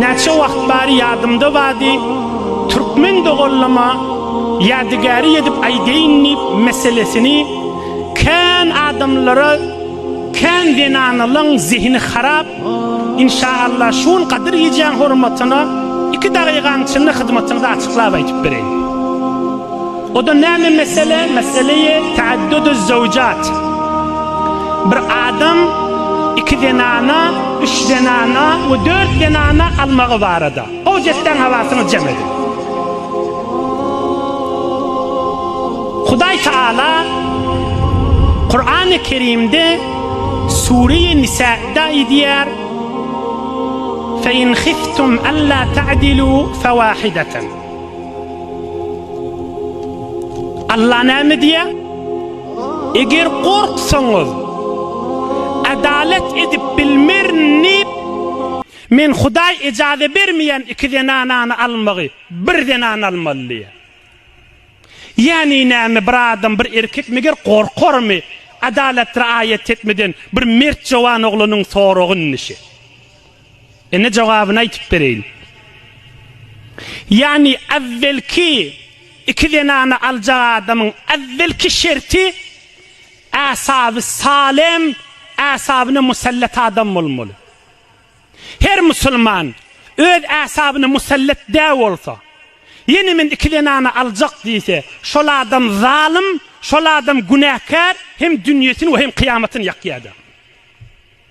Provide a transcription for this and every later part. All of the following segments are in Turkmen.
Näçe wagt bari ýadymda bady, türkmen dogallama ýadygäri edip aýdaýyn diýip meselesini kän adamlara kän zenanalaň zehini harap inşa Allah şu gün gadyr gijäň hormatyna iki dagygaň içinde hyzmatyňyzy açyklap aýdyp bereýin. O-da näme mesele? Mesele-i taadduduz-zawjat. Bir adam iki zenana, üç zenana we dört zenana almagy barada. Howc etseň hawasyňy jem edip. Hudaý Taala Kurany Kerimde Sure-i Nisa'da aýdýar, Fe in khiftum alla ta'dilu fawahidatan. Allah näme diýýär? Eger gorksaňyz, adalat edip bilmerin diýip, Men Hudaý ejaza bermeýän iki zenanany almagy, bir zenany almaly diýýär. Ýagny näme, bir adam, bir erkek meger gorkarmy, adalat riaýat etmeden bir mert jowan oglanyň soragy indi şe. Indi jogabyny aýtyp bereýin. Ýagny äwwelki iki zenany aljak adamyň äwwelki şerti äsaby salem, äsabyna musallat adam bolmaly. Her musulman öz äsabyna musallat dä bolsa, ýene men iki zenany aljak diýse, şol adam zalym, şol adam günäkär, hem dünýesini we hem kyýamatyny ýakýarda.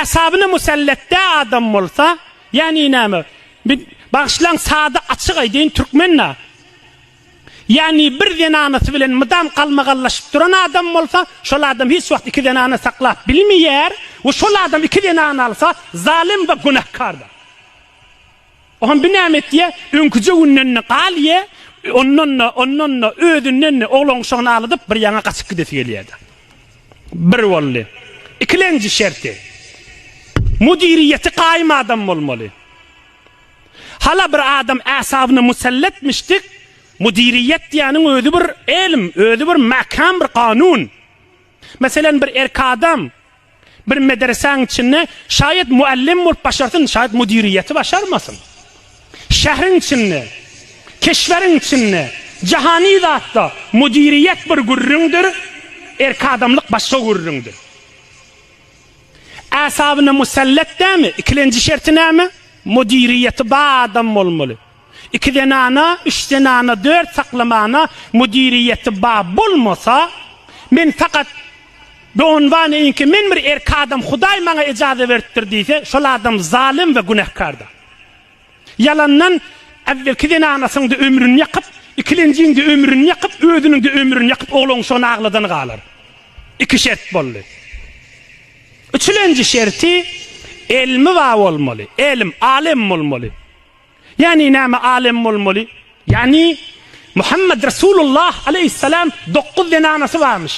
Äsabyna musallat dä adam bolsa, ýäni näme? Men, bagyşlaň, sada açyk aýdaýyn, türkmen-dä. Ýäni bir zenanasy bilen mydam galmagallaşyp duran adam bolsa, şol adam hiç wagt iki zenana saklap bilmeýär we şol adam iki zenany alsa, zalym we günäkärdir. Ohan bi näme etýä? Öňküje günden-de galýä, ondan-da, ondan-da, özünden-de oglan-uşagyny aladyp, bir ýaňa gaçyp gidesi gelýä-de. Bir boldy. Ikilenji şerti. Müdiriýeti gaýym adam bolmaly. Hala bir adam äsabyna muselletmişdik, müdiriýet diýýäniň özi bir elm, özi bir mäkäm bir kanun. Meselem, bir erkek adam bir medresäň içinde şaýat muallym bolup başarsyn, şaýat müdiriýeti başarmasyn. Şähriň içinde, keşweriň içinde, jahany zatda müdiriýet bir gürrüňdir, erkek adamlyk başga gürrüňdir. Äsabyna musallat dämi, ikilenji şerti näme? Müdiriýeti bar adam bolmaly. Iki zenana, üç zenana, dört saklamana müdiriýeti ba bolmasa, men fakat doňňanynki men bir erki adam hudaý maňa ejaza beripdir diýse şol adam zalym we günähkarda. Ýalandan äwwelki zenanasyňda ömrüni ýakyp, ikilenjiňde ömrüni ýakyp, özüniňde ömrüni ýakyp oglanşygyny agladany galar. Iki şert boldy. Üçülenji şerti elmi ba bolmaly, elm, alem bolmaly. Ýagny näme alem bolmaly? Ýagny Muhammet Resulullah aleýhissalam dokuz zenanasy barmyş.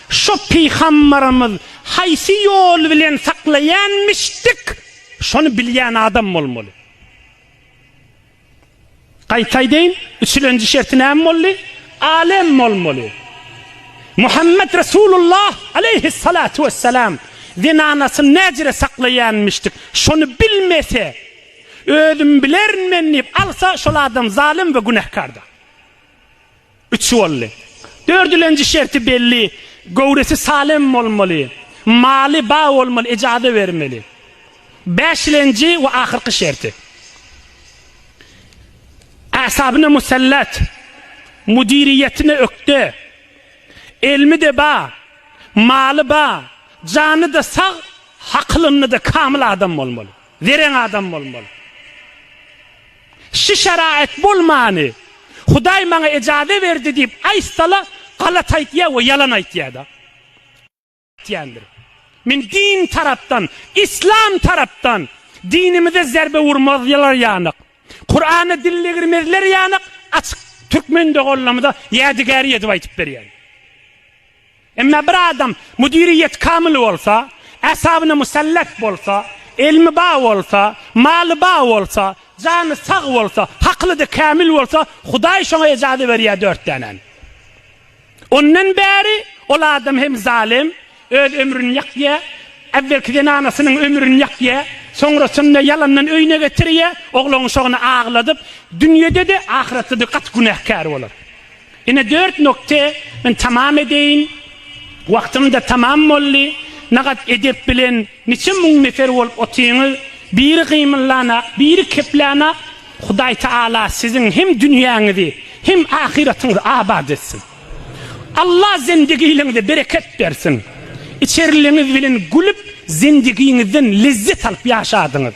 Şo pygambarymyz haýsy ýol bilen saklaýanmyşdyk şony bilýän adam bolmaly. Gaýta aýdaýyn, üçülenji şerti näme boldy? Alem bolmaly. Muhammet Resulullah aleýhissalatu wessalam zenanasyny näjire saklaýanmyşdyk şony bilmese, Özüm bilerin men diýip alsa şol adam zalym we günähkardyr. Üçi boldy. Dördülenji şerti belli, göwresi salem bolmaly, maly ba bolmaly, ejaza bermeli. Bäşilenji we ahyrky şerti. Asabyna musallat, müdiriýetine ökde, elmi-de ba, maly ba, jany-da sag, hakylynda-da kamyl adam bolmaly. Zerän adam bolmaly. Şu şaraýat bolmany Hudaý maňa ejaze berdi diýip aýtsala galat aýtýa we ýalan aýtýada. Aýtýandyr. Men din tarapdan, islam tarapdan dinimize zerbe urmazlar ýanyk, Kurana dil degirmezler ýanyk açyk türkmen doganlarymyza ýadygäri edip aýtyp berýän. Emma bir adam müdiriýeti kamyl bolsa, äsabyna musallak bolsa, elmi ba bolsa, maly ba bolsa, jany sag bolsa, hakyly-da kämil bolsa, Hudaý şoňa ejazy berýär dört dänäni. Ondan bäri ol adam hem zalym, öz ömrüni ýakýar, äwwelki zenanasynyň ömrüni ýakýar, soňrasynda ýalandan öýüne getirýär, oglanşagyny agladyp, dünýede-de, ahyretde-de gaty günäkär bolar. Ine dört nokte men tamam edeýin. Wagtymda tamam boldy. Nagat edep bilen niçe müň nefer bolup otyňyz. Biri gymyllanak, biri keplänak. Hudaý Taala siziň hem dünýäňizi hem ahyratyňyzy abat etsin. Alla zendigiligiňize bereket bersin. Içerligiňiz bilen gülüp zendigiňizden lezzet alyp ýaşadyňyz.